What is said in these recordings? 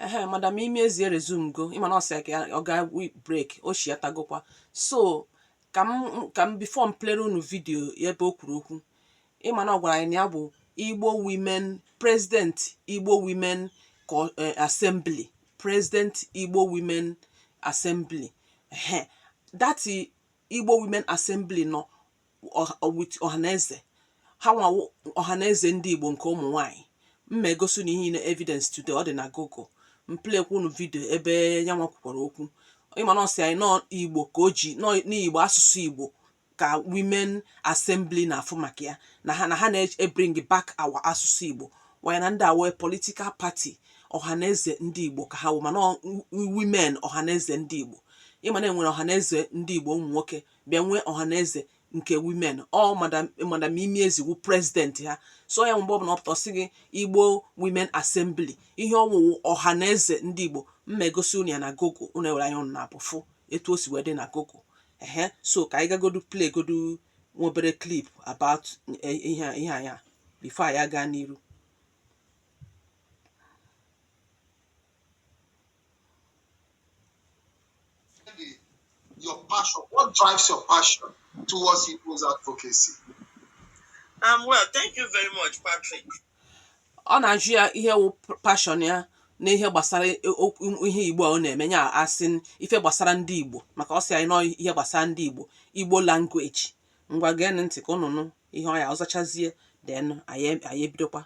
ehe madam imi ezi eresumego ị ma na ọ sị ka ọ gaa break o chighatagokwa so ka m ka m before m playere unu video ebe o kwuru okwu ị ma na ọ gwara anyị na ya bụ igbo women president igbo women eh, assembly president igbo women assembly ehe that igbo women assembly nọ ọhaneze ha nwa wụ ọhaneze ndị Igbo nke ụmụ nwanyị m ma-egosi unu ihe na evidence today ọ dị na Google m playkwa unu video ebe ya nwa kwukwara okwu ị ma na ọ sị anyị na ọ Igbo ka o ji n'Igbo asụsụ Igbo ka women assembly na-afụ maka ya na ha na ha na-ebring back our asụsụ Igbo while na ndị a wụ political party ọhaneze ndị Igbo ka ha wụ mana women ọhaneze ndị Igbo ị ma na e nwere ọhaneze ndị Igbo ụmụ nwoke bịa nwee ọhaneze nke women ọ madam madam imi ezi wụ president ha so ya mgbe ọ bụla ọ pụta ọ sị gị igbo women assembly ihe ọ wụ wụ ọhaneze ndị igbo m ma-egosi unu ya na google unu ewere anya unu naabọ fụ etu o si wee dị na google ehe so ka anyị gagodu playgodu nwa obere clip about eh, ihe a- ihe anya before anyị aga n'iru your passion? What drives your passion towards people's advocacy? Um, well, thank you very much, Patrick. ọ na-ajụ ya ihe wụ passion ya na ihe gbasara e- okwu- ihe igbo a ọ na-eme ya asị ife gbasara ndị igbo maka ọ sị anyị na ọ ihe gbasara ndị igbo igbo language ngwa geenụ ntị ka ụnụ nụ ihe ọ ya ọ zachazie then anyị anyị ebidokwa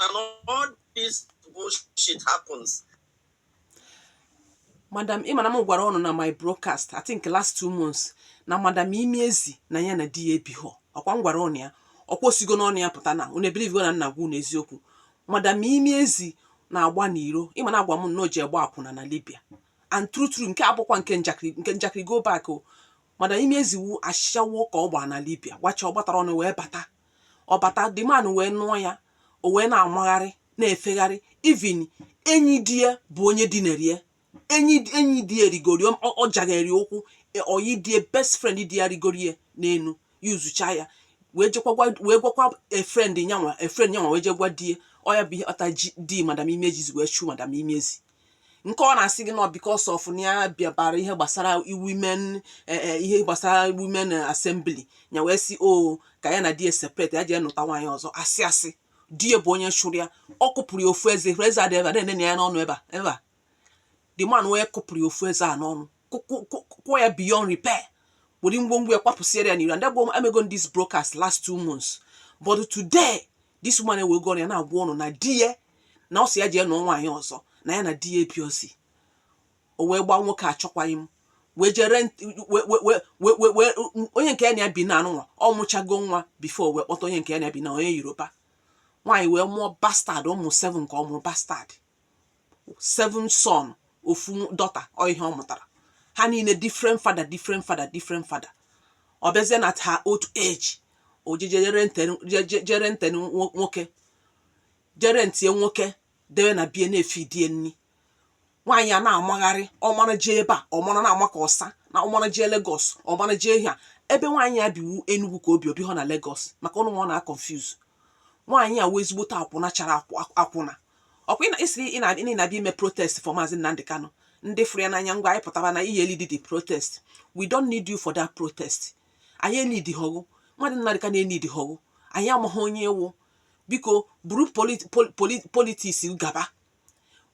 and all this bullshit happens. madam ị ma na m gwara ụnụ na my broadcast i think last two months na madam imi ezi na ya na di ya ebighọ ọ kwa m gwara ụnụ ya o kwusigo n'ọnụ ya pụta na ụnụ ebelievego na m na-agwa ụnụ eziokwu madam imi ezi na-agba n'iro ị ma na a gwa m na o je gba akwụna na libya and true true nke a bụkwa nke njakịrị nke njakịrị go back o madam imi ezi wu ashawo ka ọ gbaa na libya gbacha ọ gbatara ọnụ wee bata ọ bata the man wee nụọ ya o wee na-amagharị na-efegharị even enyi di ya bụ onye dinere ya enyi enyi di ya rigoro ọ jaghere ụkwụ e, oyi di ya best friend di ya rigoro ya n'elu usechaa ya wee jekwa wee gwakwa a friend nya nwa a friend nya nwa wee jee gwa di ya ọ ya bụ ihe kpata di madam imi ezi wee chụ madam imi ezi nke ọ na-asị gị na ọ because of na ya bịabara ihe gbasara women e, e, ihe gbasara women assembly ya wee sị o oh, ka ya na di separate ya jee nụta nwaanyị ọzọ asị asị di ya bụ onye chụrụ ya ọ kụpụrụ ya ofu eze eze a dị ebe a na-ene ya n'ọnụ ebe a ebe a the man wee kụpụrụ ya ofu eze a n'ọnụ kụọ ya beyond repair were ngwongwo ya kwapụsiere ya n'iro and that bụ emego this broadcast last two months but today this woman ewee gụọ ya na-agwa ụnụ na di ya na ọ sị ya jee nụọ nwaanyị ọzọ na ya na di ya ebirozi o wee gbaa nwoke achọkwaghị m wee jee rent onye nke ya na ya bi na anụnwa ọ mụchago nwa before wee kpọta onye nke ya na ya bi na onye yoruba nwaanyị wee mụọ bastard ụmụ seven ka ọ mụrụ bastard seven son ofu daughter ọ ihe ọ mụtara ha niile different father different father different father ọ bịazie na her old age o jee jee rent nwoke jee rentie nwoke debe na be ya na-efeed ya nri nwaanyị a na-amagharị ọ mara jee ebe a ọ mara na-ama ka ọsa na ọ mara jee Lagos ọ mara jee ihe a ebe nwaanyị a bi wụ Enugu ka o bi o bihụ na Lagos maka ụnụ ọ na-aconfuse nwaanyị a wụ ezigbote akwụna chara akwụna ọ kwa ị sịrị ị na-abịa ime protest for Maazị Nnamdi Kanu ndị fụrụ ya n'anya ngwa anyị pụtara na iyi elead the protest we don't need you for that protest anyị eneedihọ gị Maazị Nnamdi Kanu eneedihọ gị anyị amaghị onye ị wụ biko buru politics gaba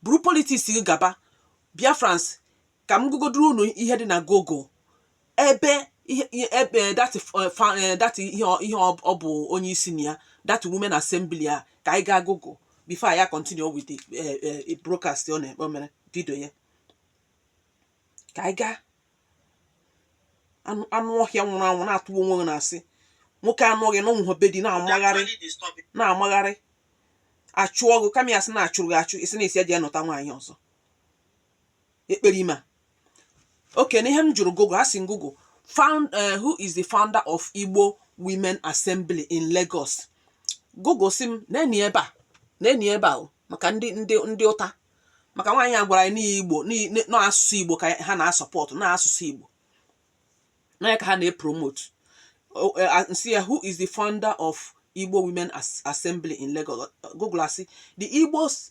buru politics gaba Biafrans ka m gụgodoro unu ihe dị na Google ebe ihe ebe that eh, fa- eh, that ihe ọ- ihe ọ ọ bụ onye isi na ya that women assembly a ka anyị gaa Google before ya continue with the eh, eh, broadcast ọ na-ekpe o mere video ya ka anyị gaa anụ anụ ọhịa nwụrụ anwụ na-atụ onwe gị na-asị nwoke anụghị na ụmụ be di na-amagharị na-amagharị a chụọ gị kama ị ya-asị na a chụrụ gị achụ ị sị na ị sị ya jee nụta nwaanyị ọzọ ekperima okay na ihe m jụrụ Google a sị m Google found uh, who is the founder of Igbo Women Assembly in Lagos Google sị m neenụ ebe a neenụ ebe a maka ndị ndị ndị ụta maka nwaanyị a gwara anyị na ihe Igbo na asụsụ Igbo ka ha na-asupport na asụsụ Igbo na ya ka ha na-epromote Uh, sị ya who is the founder of Igbo Women As Assembly in Lagos. Google asị the Igbos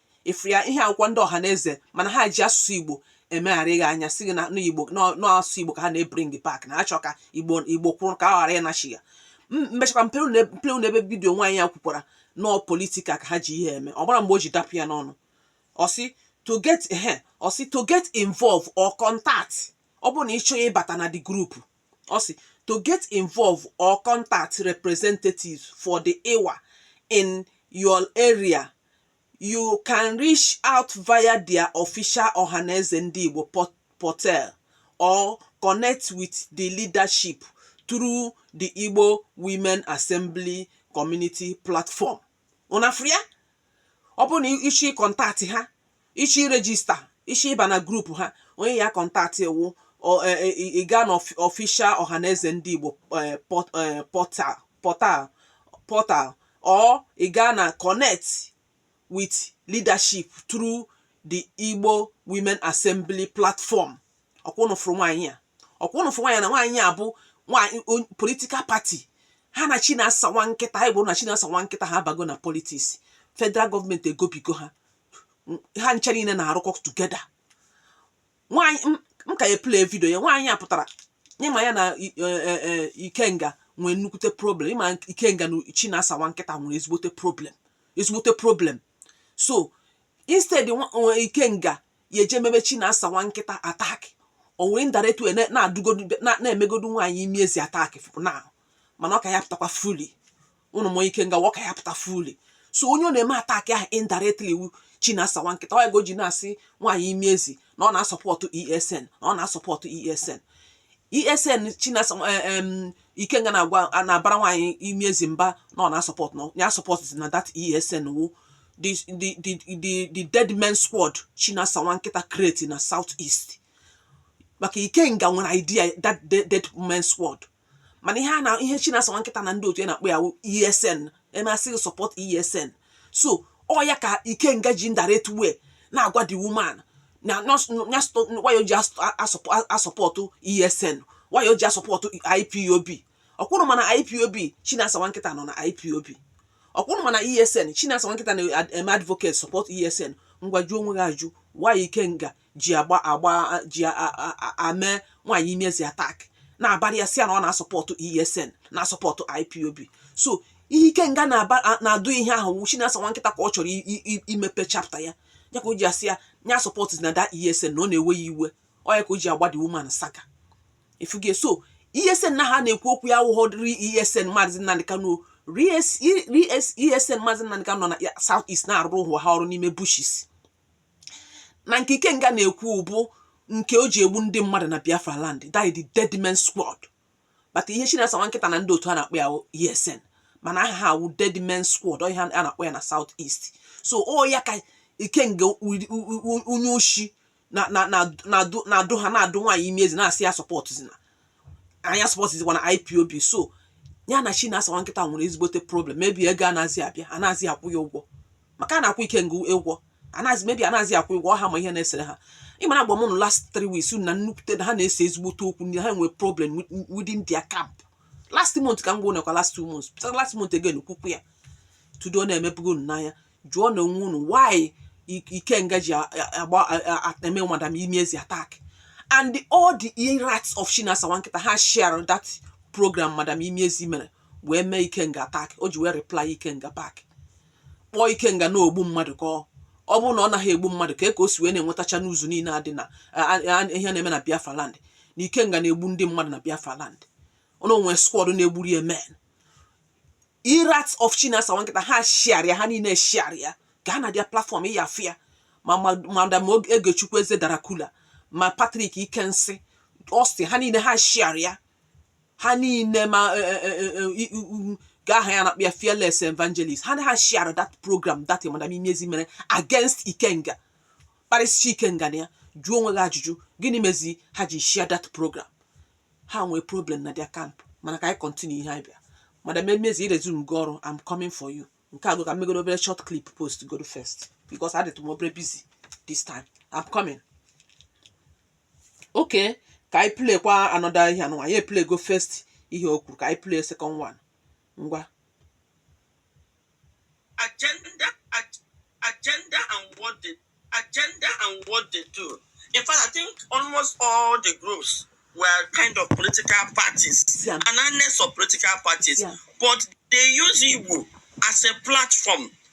ị fụ ya ihe a wụkwa ndị Ọhaneze mana ha ji asụsụ igbo emegharị gị anya sị gị na igbo na asụsụ igbo ka ha na-ebring back na achọ ka igbo igbo kwụrụ ka a ghara ịnachi ya m mechakwa m playra unu ebe video nwaanyị a kwukwara na ọ political ka ha ji ihe eme ọ marọ mgbe o ji dapụ ya n'ọnụ ọ sị to get ehe ọ sị to get involve or contact ọ bụrụ na ị chọọ ịbata na the group ọ sị to get involve or contact representatives for the IWA in your area You can reach out via their official Ọhaneze Ndị Igbo portal or connect with the leadership through the Igbo Women Assembly Community Platform. Ụnụ afụ ya? Ọ bụrụ na ị chọ ịcontact ha, ị chọ iregister, ị chọ ịba na group ha, onye ị ya-acontact wụ e, e, ị gaa na official Ọhaneze Ndị Igbo e, portal portal or ị gaa na connect with leadership through the Igbo Women Assembly platform ọkwa ụnụ fụrụ nwaanyị a ọkwa ụnụ fụrụ nwaanyị na nwaanyị a bụ nwaanyị on- political party ha na Chinasa nwa nkịta anyị gwara ụnụ na Chinasa nwa nkịta ha abago na politics federal gọọmenti egobigo ha ha ncha niile na-arụkọ together nwaanyị m ka na-eplay vidio ya nwaanyị a pụtara ịma ya na e, e, e, Ikenga nwee nnukwute problem ịma Ikenga na Chinasa nwa nkịta nwere ezigbote problem ezigbote problem so instead Ikenga ya-eje mebe Chinasa nwa nkịta attack o were indirect way na-adụgodu na-emegodu nwaanyị imi ezi attack na mana ọ ka ya-apụtakwa fully ụnụ ma Ikenga ọ ka ya-apụta fully so onye ọ na-eme attack ahụ indirectly wụ Chinasa nwa nkịta ọ ya ka o ji na-asị nwaanyị imi ezi na ọ na-asọpọtụ ESN na ọ na-asọpọtụ ESN ESN Chinasa em Ikenga na-agwa na-abara nwaanyị imi ezi mba na ọ na-asọpọtụ na ya sọpọtụna that ESN wụ the the the the the dead men squad Chinasa nwa nkịta create na South East maka Ikenga nwere idea that dead, dead men squad mana ihe a na ihe Chinasa nwa nkịta na ndị otu ya na-akpọ ya wụ ESN emasịghị support ESN so ọ ya ka Ikenga ji indirect way na-agwa the woman na why o ji asọpọtụ ESN why o ji asọpọtụ IPOB ọkwa ụnụ ma na IPOB Chinasa nwa nkịta nọ na IPOB ọkwa ụnụ ma na ESN Chinasa nwa nkịta na-eme advocate support ESN ngwa jụọ onwe gị ajụjụ why Ikenga ji agba agba ji eme nwaanyị imi ezi attack na-abara ya sị ya na ọ na-asọpọtụ ESN na-asọpọtụ IPOB so ihe Ikenga na-adụ ihe ahụ wụ Chinasa nwa nkịta ka ọ chọrọ imepe chapter ya ya ka o ji asị ya na ya sọpọtụna that ESN na ọ na-ewe ya iwe ọ ya ka o ji agba the woman saga ị fụgo so ESN na ha na-ekwu okwu ya wụghọ real ESN maazị Nnamdị Kanu real ESN maazị Nnamdị Kanu nọ na South East na-arụrụ onwe ha ọrụ n'ime bushes na nke Ikenga na-ekwu bụ nke o ji egbu ndị mmadụ na Biafra land that is the dead men squad but ihe Chinasa nwa nkịta na ndị otu ya na-akpọ ya ESN mana aha ha wụ dead men squad ọ ihe a na-akpọ ya na South East so ọ ya ka Ikenga onye oshi na-adụ ha na-adụ nwaanyị imi ezi na-asị ya sọpọtụzina na ya sọpọtụzikwana IPOB so ya na Chinasa nwa nkịta nwere ezigbote problem maybe ego anazị abịa anazị akwụ ya ụgwọ maka a na-akwụ ikenga ụgwọ anazi maybe anazi akwụ ụgwọ ha ma ihe na-esere ha ị mara agwa m nụ last three weeks na nnukwute na ha na-ese ezigbote okwu ndị ha nwere problem within their camp last month ka m gwa nekwa last two months pụtara last month again kwukwa ya tudo na-emepụgo unu n'anya jụọ nụ onwe unu why ikenga ji agba eme madam imi ezi attack and the, all the e-rats of Chinasa Nwankịta ha share that program madam imi ezi mere wee mee ikenga attack o ji wee reply ikenga back kpọọ ikenga na ogbu mmadụ ka ọ bụrụ na ọ naghị egbu mmadụ ka e ka o si wee na-enwetacha news niile a dị na ihe na-eme na Biafra land na ikenga na-egbu ndị mmadụ na Biafra land na o nwee squad na-egburu ya men e-rat of Chinasa Nwankịta ha share ya ha niile share ya gaa na their platform ị ya-afụ ya ma madam Egechukwu Eze Dracula ma Patrick ike nsị ọsị ha niile ha share ya ha niile ma e, e, e, e, e, i- u- u- ka aha ya na-akpọ ya fearless evangelist ha na ha share that program that madam imi ezi mere against ikenga kparịsịcha ikenga na ya jụọ onwe gị ajụjụ gịnị mezi ha ji share that program ha nwee problem na their camp mana ka anyị continue ihe anyị bịa madam imi ezi resume gị ọrụ am coming for you nke a go ka m megoro obere short clip post goro first because adịtụ m obere busy this time am coming okay ka anyị play kwa another ihe anụnwa anyị play go first ihe o kwuru ka anyị play second one ngwa agenda agenda and what they agenda and what they do in fact i think almost all the groups were kind of political parties yeah. and annex of political parties yeah. but they use Igbo as a platform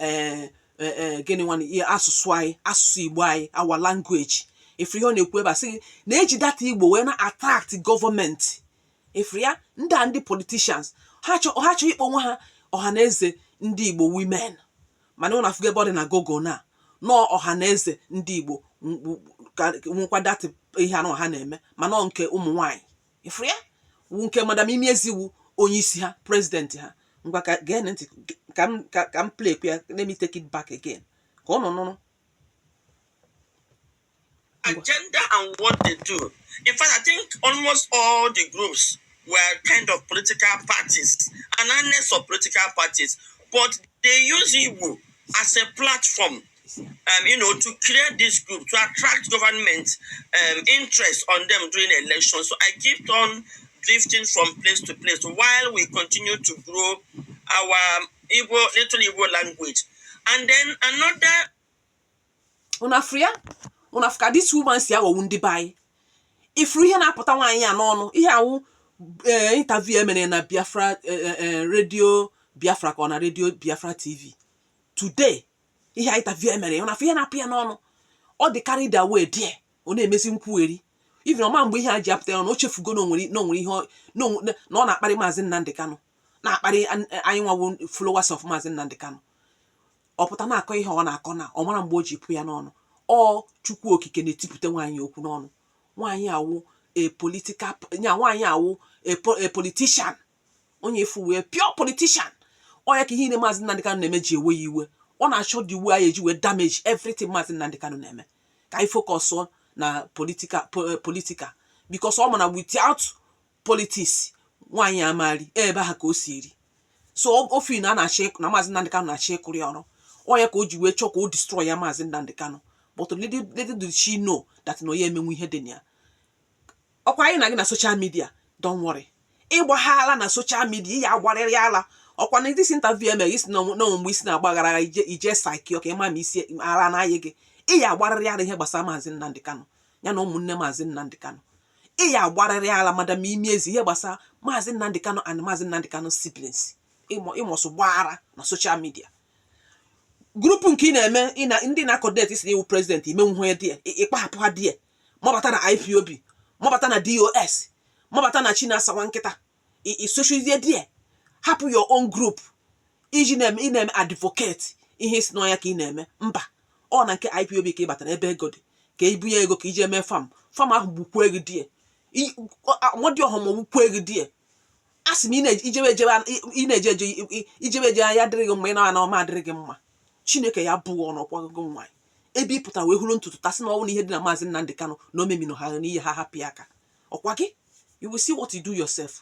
ee eh, eh, gịnị nwanne ihe asụsụ anyị asụsụ igbo anyị our language ị fụrụ ihe ọ na-ekwu ebe a sị na-eji that igbo wee na-attract government ị fụrụ ya ndị a ndị politicians ha chọọ ịkpọ onwe ha ọha na eze ndị igbo women mana ụnụ afụgo ebe ọ dị na Google na nọọ ọha na eze ndị igbo nwekwa that ihe anụ ha na-eme mana nke ụmụ nwaanyị ị fụrụ ya wu nke madam imi ezi wu onye isi ha president ha ngwa ka gee ntị ka m play ya let me take it back again ka ụnụ nụrụ agenda and what they do in fact i think almost all the groups were kind of political parties and annex of political parties but they use Igbo as a platform um, you know, to create this group, to attract government um, interest on them during election. So I kept on drifting from place to place while we continue to grow our Igbo, little Igbo language. And then another. Unu afụrụ ya? Unu afụ ka this woman si aghọgbu ndị be anyị. Ị fụrụ ihe na-apụta nwaanyị a n'ọnụ, ihe a wụ eh, interview e mere na Biafra eh, eh, radio Biafra ka ọ na radio Biafra TV. Today, ihe a interview e mere ya ọ na-afụ ihe na-apụ ya n'ọnụ ọ dị karị da wee die ọ na-emezi nkwugheri even ọ ma mgbe ihe a ji apụta ya na o chefugo na o nwere na o nwere ihe ọ- na onwe- na- na ọ na-akparị maazị Nnamdị Kanụ na-akparị an- anyị nwa wụ followers of maazị Nnamdị Kanụ ọ pụta na-akọ ihe ọ na-akọ na ọ mara mgbe o ji pụ ya n'ọnụ ọ chukwu okike na-etipụta nwaanyị okwu n'ọnụ nwaanyị a wụ a political ya nwaanyị a wụ a po- a politician onye ị fụ wụ pure politician ọ ya ka ihe niile maazị Nnamdi Kanu na-eme ji ewe ya iwe ọ na-achọ the way anyị eji wee damage everything maazị Nnamdi Kanu na-eme ka anyị focus on na political eh, political because ọ ma na without politics nwaanyị a ama eri ebe a ka o si eri so ọ fụ na a na-achọ na maazị Nnamdi Kanu na-achọ ịkụrụ ya ọrụ ọ ya ka o ji wee chọọ ka o destroy ya maazị Nnamdi Kanu but little little did she know that na onye emenwu ihe dị na ya ọkwa anyị na gị na social media don't worry ị ya-agba ala na social media ị ya-agbarịrị ala ọkwa na this interview e mere gị ị sị na o nwe mgbe isi na-agbaghara agha ije ije saiki ọka ịma ma isi ala n'ahịa gị ị ya-agbarịrị ala ihe gbasara maazị Nnamdi Kanu ya na ụmụnne maazị Nnamdi Kanu ị ya-agbarịrị ala madam imi ezi ihe gbasara maazị Nnamdi Kanu and maazị Nnamdi Kanu siblings ị must gba ara na social media group nke ị na-eme ndị na-akọdet sị na ị wụ president ị menwu ha die ị gbahapụ ha die mabata na IPOB mabata na DOS mabata na Chinasa nwa nkịta ị sochizie die hapụ your own group ị ji na-eme ị na-eme advocate ihe ị sị na ọ ya ka ị na-eme mba ọ na nke IPOB ka ị batara ebe ego dị ka ị bunye ego ka ị ji eme fam fam ahụ gbukwuo ego die mmadụ ọhụm gbukwuo ego die a sị m ị na-eje ijebe ejebe ị na-eje eje ijebe eje ya adịrị gị mma ị na-ana ọ ma adịrị gị mma chineke ya-abụ gị ọnụ ọkwa gị nwaanyị ebe ị pụtara wee họrọ ntutu taa sị na ọ wụ na ihe dị na maazị Nnamdi Kanu na o memino ha n'ihe ha hapụ ya aka ọkwa gị you will see what you do yourself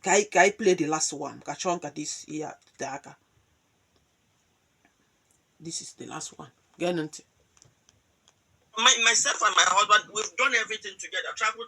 ka anyị ka anyị play the last one achọọ m ka this ihe a tee aka this is the last one geenụ ntị my, myself and my husband, we've done everything together, traveled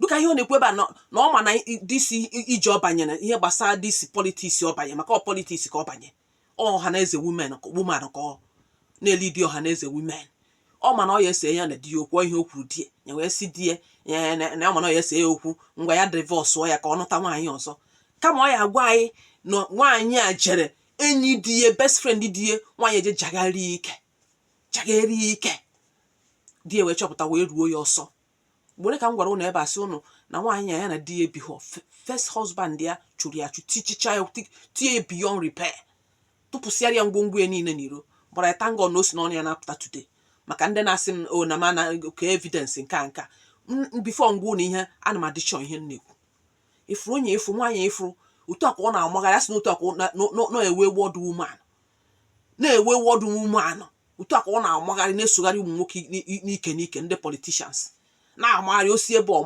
dịka ihe ọ na-ekwu ebe a na na ọ ma na i- disi i- ije ọ banyere ihe gbasara disi politics ọ banye maka ọ politics ka ọ banye ọ ọha na eze women ka- woman ka ọ na-elidi ọha na eze women ọ ma na ọ ya ese ya na di ya okwu ọ ihe o kwuru di ya wee sị di ya na na ọ ma na ọ ya ese ya okwu ngwa ya divọsụọ ya ka ọ nụta nwaanyị ọzọ kama ọ ya agwa anyị na nwaanyị a jere enyi di ya best friend di ya nwaanyị eje jagharịa ike jagharịa ike di ya wee chọpụta wee chụọ ya ọsọ mgbe ka m gwara ụnụ ebe a sị ụnụ na nwaanyị a ya na di ya ebighọ first husband ya chụrụ ya achụ tichicha ya tie ya beyond repair tụpụsịara ya ngwongwo ya niile n'iro gbara ya thank God na o si n'ọnụ ya na-apụta today maka ndị na-asị m o oh, na mana ka evidence nke a nka before m gwa ụnụ ihe ana m adị sure ihe m na-ekwu ịfụrụ onye ịfụrụ nwaanyị ịfụrụ otu a ka ọ na-amagharị asị na otu a ka na wayward woman na wayward woman otu a ka ọ na-amagharị na-esogharị ụmụ nwoke n'ike n'ike ndị politicians na-amagharị o si ebe ọ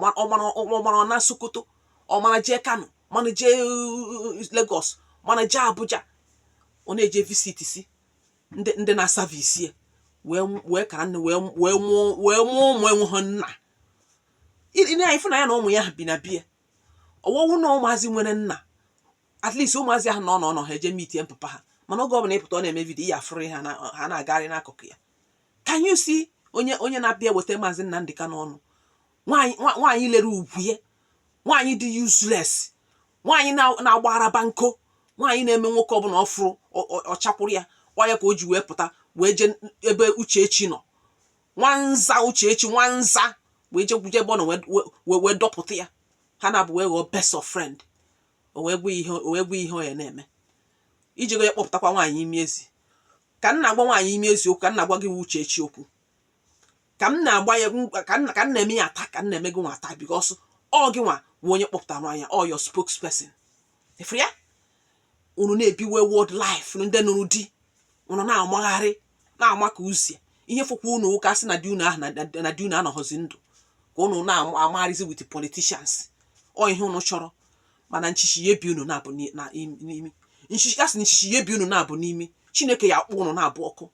mara na Sokoto ọ mara jee Kano mara jee uh, Lagos mara jee Abuja ọ na-eje visit si ndị na-asavisi wee kara nne wee mụọ ụmụ enweghị nna ị na-afụ na ya na ụmụ ya bi n'ebe a ọwọwụ na ụmụazị nwere nna at least ụmụazị ahụ na ọ nọ nọ ha eje meetie papa ha mana oge ọbụla ị pụta ọ na-eme video ị ya afụrụ ha ha na-agagharị n'akụkụ ya can you see onye onye na-abịa weta maazị Nnamdi Kanu n'ọnụ nwaanyị lere ugwu ya nwaanyị dị useless nwaanyị na-agba arabanko nwaanyị na-eme nwoke ọbụla ọ fụrụ ọ chakwuru ya ọ ya ka o ji wee pụta wee jee ebe Uchechi nọ nwanza Uchechi nwanza wee jekwuje ebe ọ nọ wee dọpụta ya ha naabụ wee ghọọ best of friend o wee gwa ihe o wee gwa ihe ọ ya na-eme i jego ya kpọpụtakwa nwaanyị imi ezi ka m na-agwa nwaanyị imi ezi okwu ka m na-agwa gị wụ Uchechi okwu ka m na-agba ya m- ka m ka m na-eme ya attack ka m na-eme gị nwa attack because ọ gị nwa wụ onye kpọpụtara nwaanyị a, ọ your spokesperson ịfụrụ ya unu na-ebi wayward life unu ndị nụrụ di unu na-amagharị na-ama ka uzie ihe fụkwa unu ụka sị na di unu ahụ na di unu anọghọzi ndụ ka unu na-amagharịzi with politicians ọ ihe unu chọrọ mana nchichi ya ebi unu naabụ n'imi nchichi ya sị na nchichi ya ebi unu naabụ n'imi chineke ya akpọ unu naabụ ọkụ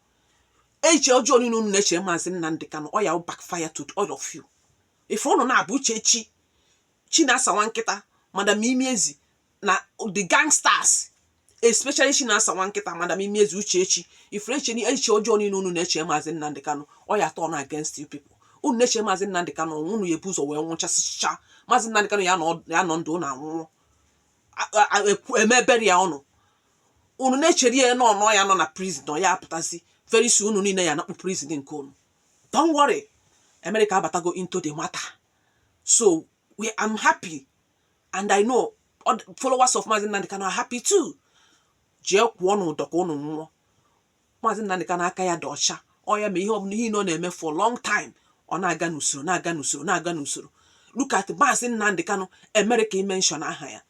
eche ọjọọ niile unu na-echere maazị Nnamdị Kanụ ọ ya backfire to all of you ife unu naabụ Uchechi Chinasa nwa nkịta madam imi ezi na the gangsters especially Chinasa nwa nkịta madam imi ezi Uchechi ifere eche echiche ọjọọ niile unu na-eche maazị Nnamdị Kanụ ọ ya turn against you people unu na-eche maazị Nnamdị Kanụ ọnwụ unu ya ebu ụzọ wee nwụchasịcha maazị Nnamdị Kanụ ya nọ ndụ na anwụọ eme ebere ya ọnụ unu na-echere ya na ọnọ ya nọ na prison na ya apụtazi very soon unu niile ya nakpụ prison nke unu don't worry America abatago into the matter so I am happy and I know followers of Maazị Nnamdi Kanu are happy too jee kwụọnụ ụdọ ka ụnụ nwụọ Maazị Nnamdi Kanu aka ya dị ọcha ọ ya ma ihe ọbụla ihe na ọ na-eme for long time ọ na-aga n'usoro na-aga n'usoro na-aga n'usoro look at Maazị Nnamdi Kanu America imention aha ya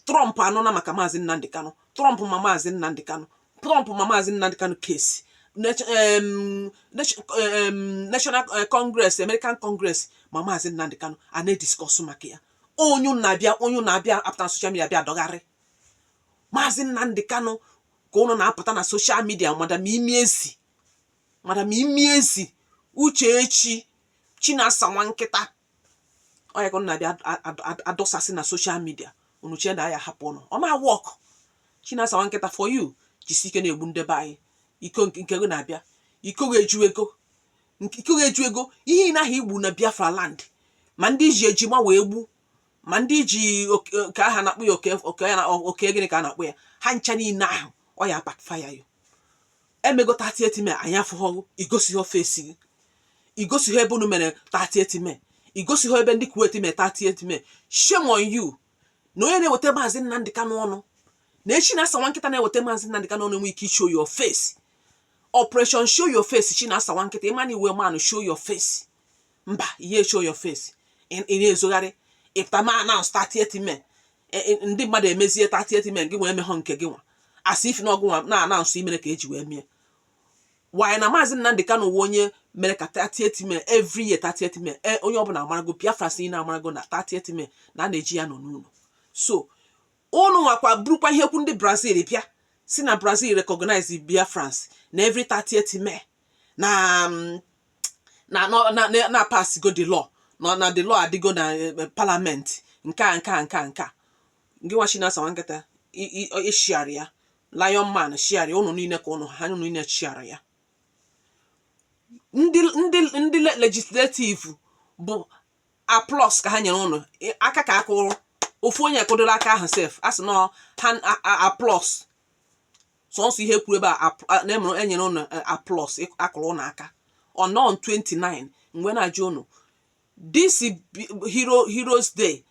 Trump anụna maka Maazị Nnamdi Kanu Trump ma Maazị Nnamdi Kanu Trump ma Maazị Nnamdi Kanu case National eh, Congress American Congress ma Maazị Nnamdi Kanu a na-ediscuss maka ya onye na-abịa onye na-abịa apụta na social media bịa dọgharị Maazị Nnamdi Kanu ka ụnụ na-apụta na social media madam imi ezi madam imi ezi Uchechi Chinasa nwa nkịta ọ ya ka unu na-abịa adọsasị na social media unu chee na anyị ahapụ unu ọ ma work Chinasa nwa nkịta for you jisi ike na-egbu ndị be anyị iko nke gị na-abịa iko gị ejugo iko gị ejugo ihe na ahụ igbu na Biafra land ma ndị ji eji ma wee gbu ma ndị ji ka aha na-akpọ ya oke gịnị ka a na-akpọ ya ha ncha niile ahụ ọ ya backfire you emego 30th May anyị afụghọ gị i gosighọ face gị i gosighọ ebe unu mere 30th May i gosighọ ebe ndị Kuwait mee 30th May shame on you na onye na-eweta maazị Nnamdị Kanụ ọnụ na Chinasa nwa nkịta na-eweta maazị Nnamdị Kanụ ọnụ enwe ike show your face operation show your face Chinasa nwa nkịta ị ma na ị wụ man show your face mba ihe show your face ị na-ezogharị ị pụta ma announce 30th May e, e, ndị mmadụ emezie 30th May gị wee meghọ nke gị nwa as if na ọ gị nwa na announce i mere ka e ji wee mie wanyị na maazị Nnamdị Kanu wụ onye mere ka 30th May every year 30th May e, onye ọbụla amarago Biafrans na amarago na 30th May na a na-eji ya nọ n'ụlọ so ụnụ nwakwa burukwa ihe kwu ndị Brazil bịa sị na Brazil recognize Biafrans na every 30th May na mm, na na na na apassgo the law na na the law adịgo na eh, eh, parliament nke a nke a nke a nke a gị nwa Chinasa nwa nkịta i- i- ọ- ị sharera ya Lion man sharera ya ụnụ niile ka ụnụ ha ụnụ niile sharera ya ndị ndị ndị le- legislative bụ applause ka ha nyere ụnụ ị- aka ka a kụrụ ofu onye kụdoro aka ahụ sef a sị nọ ha applause sọsọ ihe kwuru ebe a ap- a- na emere enyere ụnụ eh, applause ịk- akụrụ ụnụ aka ọ nọ on 29 m wee na-ajụ ụnụ this bi- hero heroes day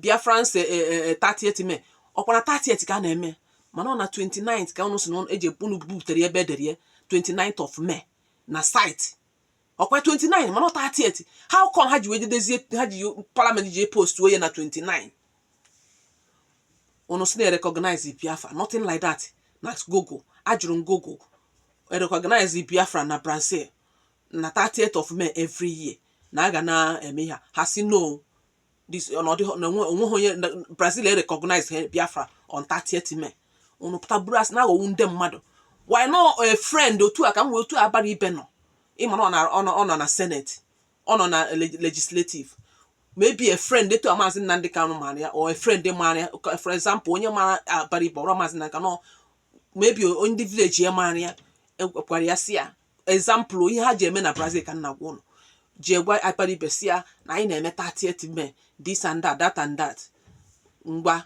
biafrans eh, eh, eh, 30th may ọkwa na 30th ka a na-eme mana ọ na 29th ka ụnụ si na ụnụ- eji ụnụ bubutere ya ebe edere ya 29th of may na site ọkwa 29 mana ọ 30th how come ha ji wee jedezie ha ji parliament ji postuo ya na 29 unu sị na e recognize Biafra nothing like that na Google ajụrụ m Google e recognize Biafra na Brazil na 30th of May every year na a ga na-eme ihe ha sị no o nweghị onye Brazil e recognize Biafra on 30th May unu pụta buru asị na-aghọgbu ndị mmadụ why not a friend otu a ka m wee otu Abaribe nọ ị ma na ọ nọ na senate ọ nọ na legislative maybe a friend etu a maazị Nnamdị Kanụ maara ya or a friend maara ya for example onye mara Abaribe or maazị Nnamdị Kanụ maybe ndị village ya maara ya ekwara ya si ya example ihe ha ji eme na Brazil ka m na-agwa ụnụ jee gwa Abaribe sị ya na anyị na-eme 30th May this and that that and that ngwa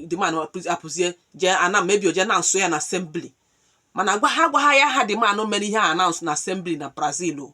the man apụzie jee ana maybe o jee announce ya na assembly ma na-agwa ha gwa ha ya ha the man mere ihe a announce na assembly na Brazil o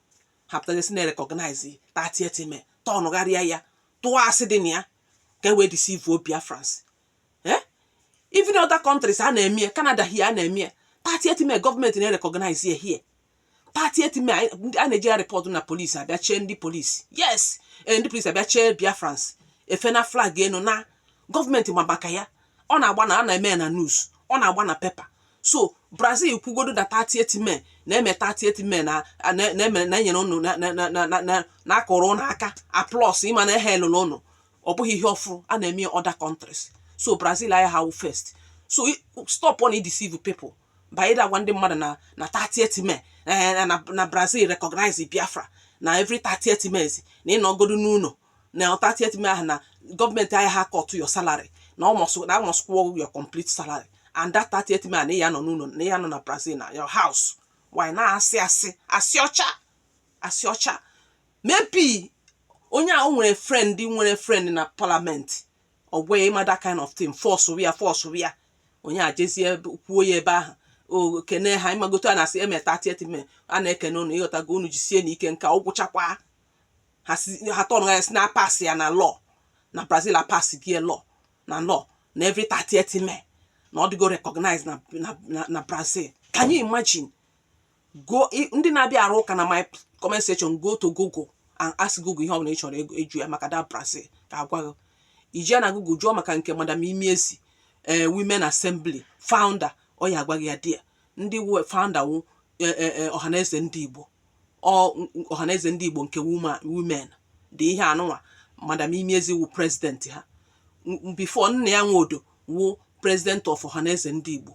ha pụta ga-asị na e recognize 30th May turnụgharịa ya tụọ asị dị na ya ka e wee deceive Biafrans eh? even other countries a na-eme Canada here a na-eme 30th May gọọmenti na-erecognize ya here 30th May a na-eji ya report na polisi abịa chee ndị polisi yes eh, ndị polisi abịa chee Biafrans efe na flag enu na gọọmenti ma maka ya ọ na-agba na a na-eme ya na news ọ na-agba na paper so brazil kwugodo na 30th may na-eme 30th may na e nyere ụnụ na a kụrụ ụnụ aka applause ị ma na e hailụla ụnụ ọ bụghị ihe ọfụrụ a na-eme ya other countries so brazil aya ha first so stopụnụ ịdeceive people by ịda agwa ndị mmadụ na na 30th may na brazil recognize biafra na every 30th may na ị nọgodo n'ụlọ na 30th May ahụ na gọọmenti ayaha cut your salary na a must na a must kwụọ your complete salary and that 30th May na ya nọ n'ụlọ na ya nọ na Brazil na your house why na asị asị asị ọcha asị ọcha maybe onye ahụ nwere friend nwere friend na parliament ọ gwa ya ị ma that kind of thing force ya force ya onye a jezie kwuo ya ebe ahụ o kene ha ị mago otu a na-esi eme 30th May a na-ekene unu ị ghọtago unu jisie na ike nke ọ gwụchakwa ha si ha tọnụ ya si na a pasị ya na law na Brazil a pasịgo law na law na every 30th May na ọ dịgo recognize na, na, na, na Brazil can you imagine go ndị na-abịa arụ ụka na my comment section go to google and ask google ihe ọ bụla ị chọrọ ịjụ ya maka the Brazil ka a gwa gị i jee na google jụọ maka nke madam Chimezie ee eh, women assembly founder ọ ya-agwa gị ya di ya ndị wu founder wu e, e, e, ọhaneze ndị Igbo ọhaneze ndị Igbo nke women dị ihe anụnwa madam Chimezie wu president ha before Nnia Nwodo wu president of ọhaneze ndị Igbo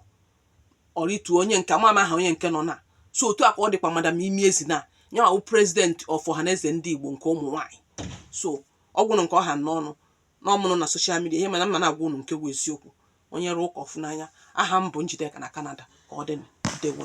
ọrịtu onye nke ama aha onye nke nọ na so otu a ka ọ dịkwa madam Chimezie na ya wu president of ọhaneze ndị Igbo nke ụmụ nwanyị so ọ gwụrụ nke ọha n'ọnụ n'ọmụrụ na social media ihe mana m na-agwa unu nke bụ eziokwu onye rụọ ụka ọ fụ n'anya aha m bụ Njideka na Kanada ka ọ dị ndewo